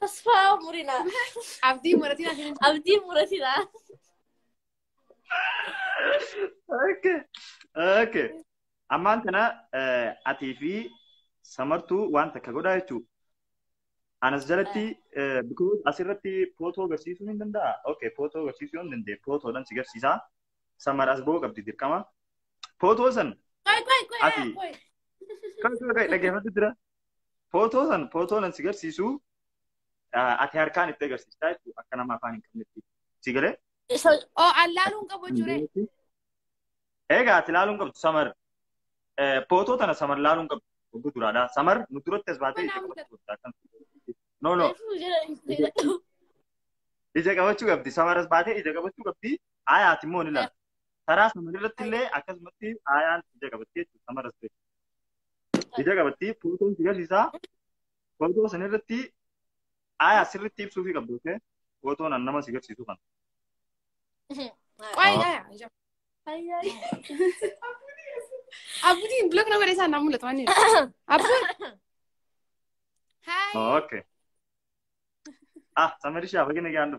Tasfaa murinaa. Abdii muratiin asiin hin Abdii muratinaa. Okay. Okay. Ammaan tana eh, atii fi samartuu waan takka godhaa jechuudha. Anas jalatti eh, because asirratti footoo agarsiisuu hin danda'a. Okay, footoo agarsiisuu hin dandeenye. Footoodhaan si agarsiisa. Samar as ba'uu qabdi dirqama. Footoo san Qoy qoy qoy Ati. qoy. kan dhaggeeffatu jira. Footoo san footoo nan si garsiisu ah, ati harkaan itti agarsiistaa jechuudha akka nama afaan hin qabnetti. Si galee? So, oh, an laaluu hin qabu jechuudha. Egaa ati laaluu hin qabdu samar. Eh, Footoo tana samar laaluu hin qabdu. Ogguu duraadhaa. Samar nu duratti as baatee ija qabachuu qabda. Akkam- No no. Reefuu jira dhiistee jedhu. Ija qabachuu qabdi. Samar as baatee ija qabachuu qabdi. Aayaati immoo ni laala. Taraa samar irratti illee akkasumatti aayaan ija qabatti jechuudha. Samar as baatee. Ija qabatti footoon si garsiisaa. Footoo san irratti aayaa sirriitti ibsuu fi qabdu. Okay? Footoon an nama si garsiisu kana. Qoy aya. Abutiin blok nama dheesaa naa mul'atu waan jedhu. Abuun. Haay. Okay. Ah, samarishaa bagina gaandu.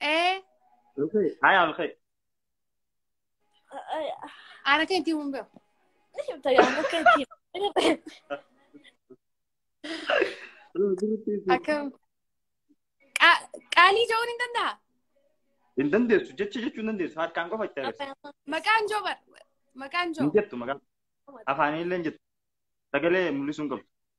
Ee, Okay. Hi, I'm okay. ana kan ittiin mumbee. Akkam. Qa- Qaalii ja'uun hin danda'a. Hin dandeessu jecha jechuu hin dandeessu harkaan qofa itti agarsiisa. Maqaan joo bar. Maqaan Hin joo. jettu maqaan afaaniillee hin jettu sagalee mul'isuu hin qabdu.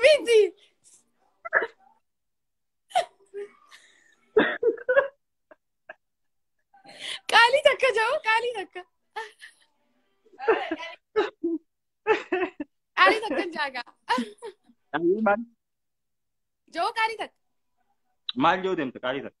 Miti. Qaalii takka jedhu qaalii takka. Qaalii takka jaagaa. Maal Jedhu qaalii takka. maal yoo deemte qaalii takka?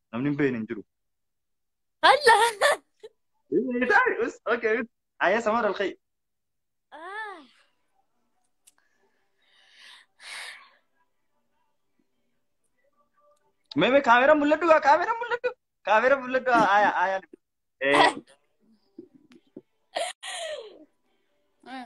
Namni hin beekne hin jiru. Alla. Okay. Ayyaa samar alkhayi. Ah. Meme kaamera mul'adhu gaa kaamera mul'adhu. Kaamera mul'adhu ayyaa ayyaa. Eh. Ah.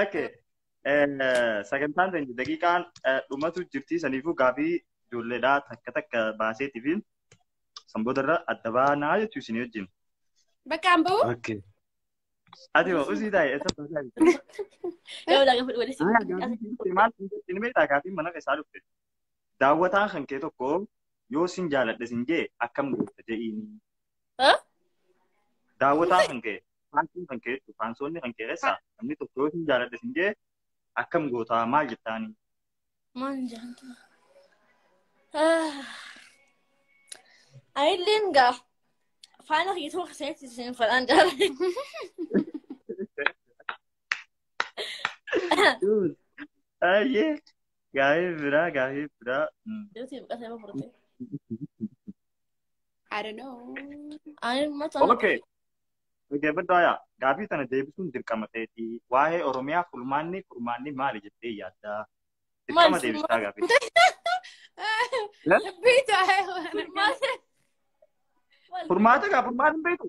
Okay. Sagantaan keenya daqiiqaan dhumatu jirti saniifuu gaafii ijoolleedhaa takka takka baaseetiifiin san boodarra adda baanaa jechuu isin wajjin. Bakka an bahu. Okay. Ati hoo usii taa'e eessa baasaa jirti? Yoo laga fuudhu walitti. Maal hin beektaa gaafiin mana keessaa dhufte? daawwataan kan kee tokko yoo sin jaaladhe sin jee akkam goota je'iini. Ha? Daawwataan kan kee faansoon kan kee jechuudha. Faansoonni kan kee keessaa namni tokko yoo sin jaaladhe sin jee akkam goota maal jettaani. Maal jaanta? Ayilleen gaa faana hiituu keessatti isin fadhaan jaalladhe. Ayyee. Gaafii biraa gaafii biraa. Mm. Duuti buqqatee ma furte. I don't know. Ani mata Okay. Okay, baddaa yaa. Gaafii sana deebisuun dirqama ta'eeti. Waa'ee Oromiyaa furmaanni furmaanni maali jettee yaaddaa? Dirqama deebistaa gaafii. Beektu Furmaata gaa furmaata hin beektu.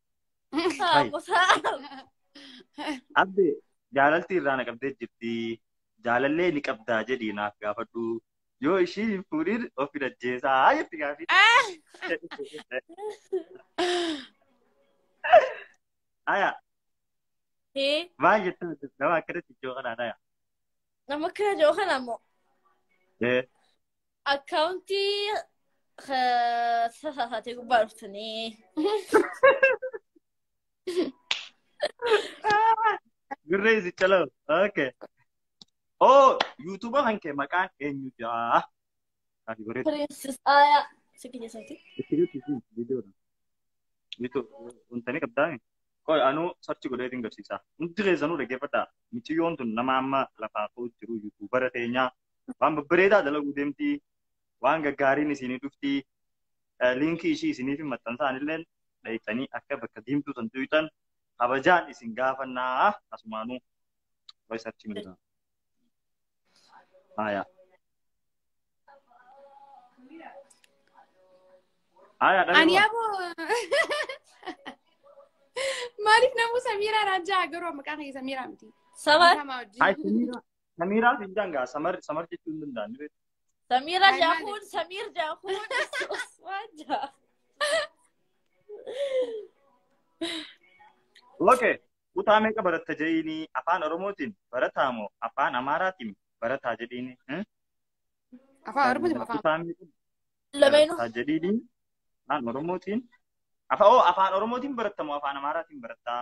Haa bosaa. Abbe jaalalti irraa na qabdee jirti. Jaalallee ni qabdaa jedhii naaf gaafadhu. Yoo ishii hin fuudhin of hin ajjeesaa jetti gaafii. Aya Ee maal jettaa jirti nama akkanatti ijoo kanaan aya. nama kana jiru kana ammoo. Eh, Akkaawuntii sasaatee gubbaa dhuftanii. Gurree si caloo. Okay. Oh, YouTube kan kee maqaan eenyu jaa? Ati goree. Piriinsis Aayaa. Si kiyya isaati. Itti jirti fi viidiyoodha. YouTube wantani qabdaa mi? Qoy anuu sarchi godhee isin garsiisaa. Hundi keessanuu dhaggeeffadhaa. Miciyyoon tun nama amma lafaa koo jiru YouTubera teenyaa waan babbareedaa dalaguu deemtii waan gaggaariin isinii dhuftii Eh, liinkii ishii isiniif hin maxxansaan illee dhayxanii akka bakka diimtuu san tuyxan kabajaan isin gaafannaa asumaanuu way sarchi midhaa. Haya. Haya dhabee Ani waan. aboo maaliif namuu Samiiraa Raajaa garuu maqaa kee Samiiraa miti. Sabaa Maqaa maa wajjin. Haya Samiiraa. Samiiraa fi Injaan gaa samar samar jechuu hin danda'an. ni beektu. Samiira Ay, maali? jaakuun, Samiir jaakuun, Usmaan jaa. Okay. Kutaa meeqa baratta jedhiini afaan Oromootiin barataa moo afaan Amaaraatiin barataa jedhiini? Hmm? Afaan Oromootiin afaan. Kutaa meeqa Lameenuu. barataa jedhiini afaan Oromootiin afaan oo afaan Oromootiin baratta moo afaan Amaaraatiin barattaa?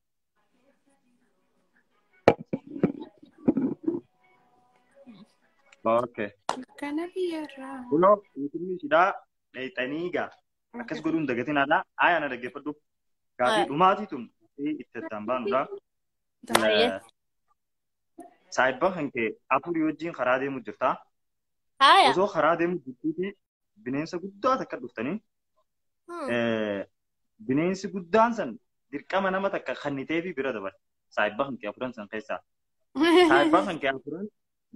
Okay. Kana biyyarraa. Kunoo guutumni ishiidhaa dheexanii egaa akkas godhuun dagatiin alaa ayaa na dhaggeeffadhu. Gaafii dhumaatii tun itti addaan baanudha. Baay'ee. Saayibba kan kee afurii wajjin karaa deemu jirta. Haaya. Osoo karaa deemu jirtuuti bineensa guddaa takka dhuftanii Hmm. eh, bineensi guddaan san dirqama nama takka kannitee fi bira dabarte. Saayibaa kan kee afuran san keessaa. Saayibaa kan kee afuran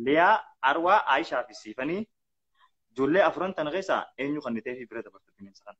Liyaa, Arwaa, Aayishaa fi Siifanii ijoollee afuran tana keessaa eenyu kannitee fi bira dabarte bineensa kana.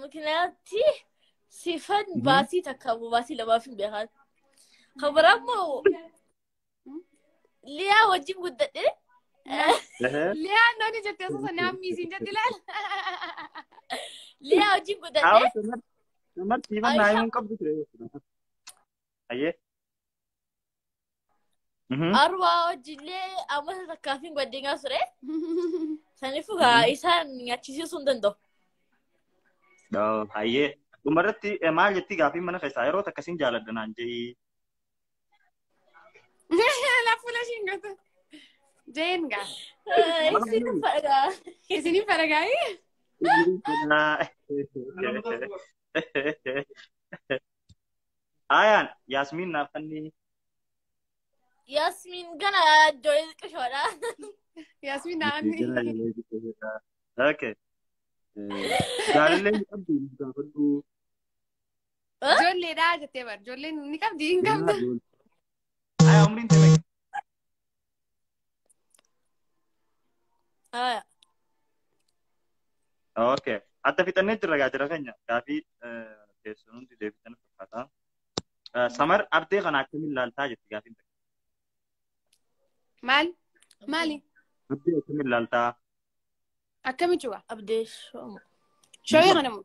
Makinaatti sifan Mhm. baasii takka moo baasii lamaaf hin beekan. Kan biraa immoo Liyaa wajjin guddadhe. Ehe. Liyaa nooni jettee osoo sana ammiisiin jetti ilaala. Liyaa wajjin guddadhe. Hawa samar samar siifan naa himuun qabdu ture. Ayyee. Mhm. Arwaa wajjillee amma isa takkaafin baddingaa ture. Sanifu gaa isaan nyaachisiisuu hin danda'u. Dhoo, Hayyee. Dhumarratti eh, maal jetti gaafiin mana keessaa yeroo takka sin jaaladha naan je'i. Lafuula ishiin gata. Jeen gaa. Isin fadhaa. Isiniin faragaayee? Fedhaa. Ayaan Yaasmiin naaf kanneen Yasmin gana joy qishoodha. Yaasmiin naanni. Okay. Jaalallee hin qabdu hin gaafadhu. Ijoolleedhaa jettee bar. Ijoolleen ni qabdi hin qabdu. Ayaan umriin tana Aya. Okay. Adda fixannee jirra gaa jira keenya. Gaafii keessan hundi deebitan fakkaata. Samar ardee kana akkamiin ilaaltaa jetti gaafiin takka. Maal? Maali? Ardee akkamiin ilaaltaa? Akkamitti waa? Abdee shooma. Shawee kana moo?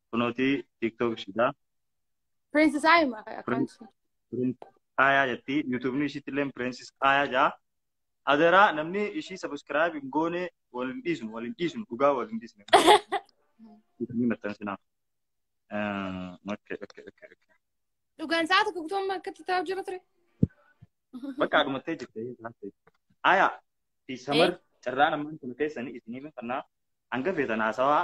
kunooti tiktok ishidha Princess Ayuma akkaanti. aayaa jetti yuutuubni ishiitti illee pireensis aayaa jaa adaraa namni ishii sabiskiraayib hin goone wal hin dhiisnu wal hin dhiisnu dhugaa wal hin dhiisne ni maxxansinaa okay okay okay okay Dhugaan sa'a tokko guutuu amma akkatti taa'u jira ture. bakka dhumattee jirte aayaa fi samar carraan ammaan kun keessanii isinii mifannaa hanga feetan haasawaa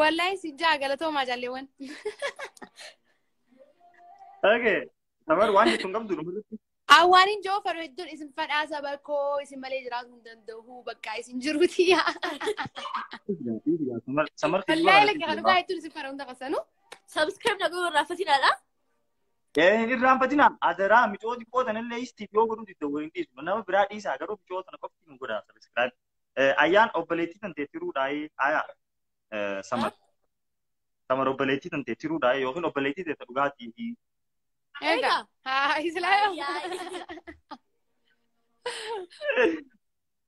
Wallahi si jaa galatoomaa jaalleewwan. Okay. Tabar waan jettu hin qabdu dhumarratti. Awwaaniin joo faru hedduun isin fadhaa saba koo isin malee jiraachuu hin danda'u bakka isin jiruuti yaa. Samar Wallahi lakki kan dhugaa hedduun isin fadha hunda qasanu. Subscribe na godhuu irraa fatinaadha. Hin irraanfatina adaraa micooti qootan illee istiif yoo godhuu didda waliin dhiisu nama biraa dhiisaa garuu micoo tana qofti nu godhaa sabiskiraayib. Ayyaan obboleettii tantee tiruudhaayii ayaa samar. Samar obboleettii tantee tiruudhaayii yookiin obboleettii teessa dhugaatii. Ega. Ha islaam.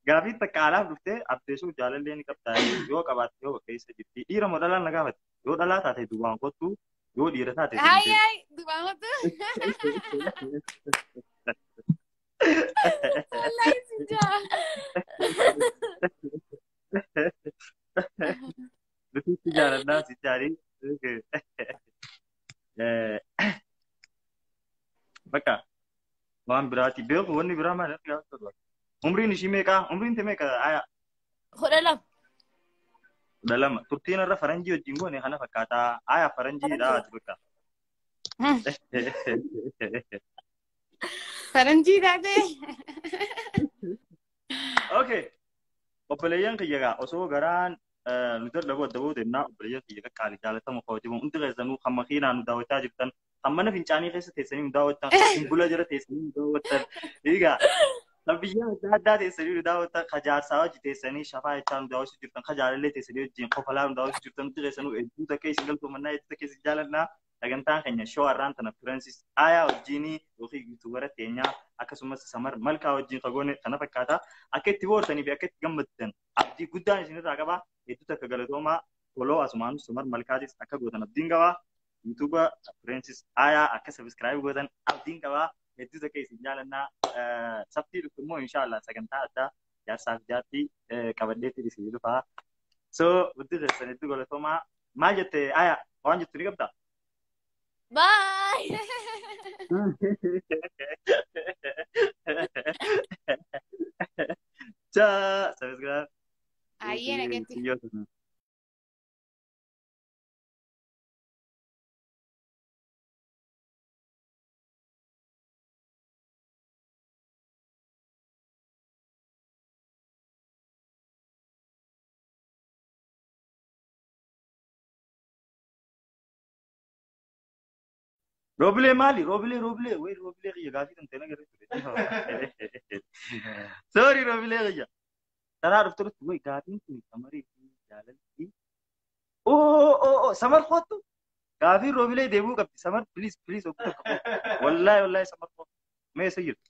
Gaafii takka alaaf dhuftee abdeessuuf jaalallee ni qabdaa yoo qabaatte yoo keessa jirti dhiira moo dhalaan na gaafate yoo dhalaa taate duwwaan kottu yoo dhiira taate Ay ay dubaamatu. Wallaahi si jaa. Nuti itti jaalannaa si jaalii. Bakka waan biraati beeku wanni biraa maal akka gaafatu dha. Umriin ishii meeqaa? Umriin tee meeqa? Aya Kudha lama. kudha lama. Turtiin irra faranjii wajjin goone kana fakkaataa. Aya faranjii dha ati bakka. Faranjii taatee. Okay. Obboleeyyan kiyya egaa osoo garaan eh, nu dadhabuu adda ba'uu deemnaa obboleeyyan kiyya egaa qaali jaalatamu kabajamu hundi keessanuu kan makiinaa nu daawwachaa jirtan kan mana fincaanii keessa teessanii nu daawwattan kan simbula jala teessanii nu daawwattan egaa kan biyya adda addaa teessanii nu daawwattan kan jaarsaa wajji teessanii shafaa jechaa nu daawwachuu jirtan kan jaalallee teessanii wajjin kofalaa nu daawwachuu jirtan hundi keessanuu hedduu takkee isin galtoomannaa hedduu takkee isin jaalannaa sagantaan keenya shoo har'aan tana Fireensis Aayaa wajjiinii yookiin yuutuubara keenyaa akkasumas Samar Malkaa wajjiin kagoone kana fakkaata. Akka itti boortanii fi akka itti gammaddan abdii guddaan isinirraa qaba. Hedduu takka galatoomaa foloo asumaan Samar Malkaatis akka gootan abdiin qaba. Yuutuuba Fireensis Aayaa akka sabiskiraayib gootan abdiin qaba. Hedduu takka isin jaalannaa. Saftii dhuftu immoo inshaallah sagantaa addaa jaarsaaf jaartii qabadheetti isin dhufaa. So hundi keessan hedduu galatoomaa. Maal jette aya waan jettu ni qabda? Baay! Ciao, subscribe. Ayyee nagatti. Siyyoo. Robilee maali? Robilee robilee wayii robilee kiyya gaafii kan ta'e na garee ture. Sorry robilee kiyya. Taraa dhufte dhufte wayii gaafiin kun samarii fi jaalalli. Oo oo oo samar kottu gaafii robilee deebuu qabdi samar please please oguu tokko. Wallaahi wallaahi samar kottu. Mee isa jirtu.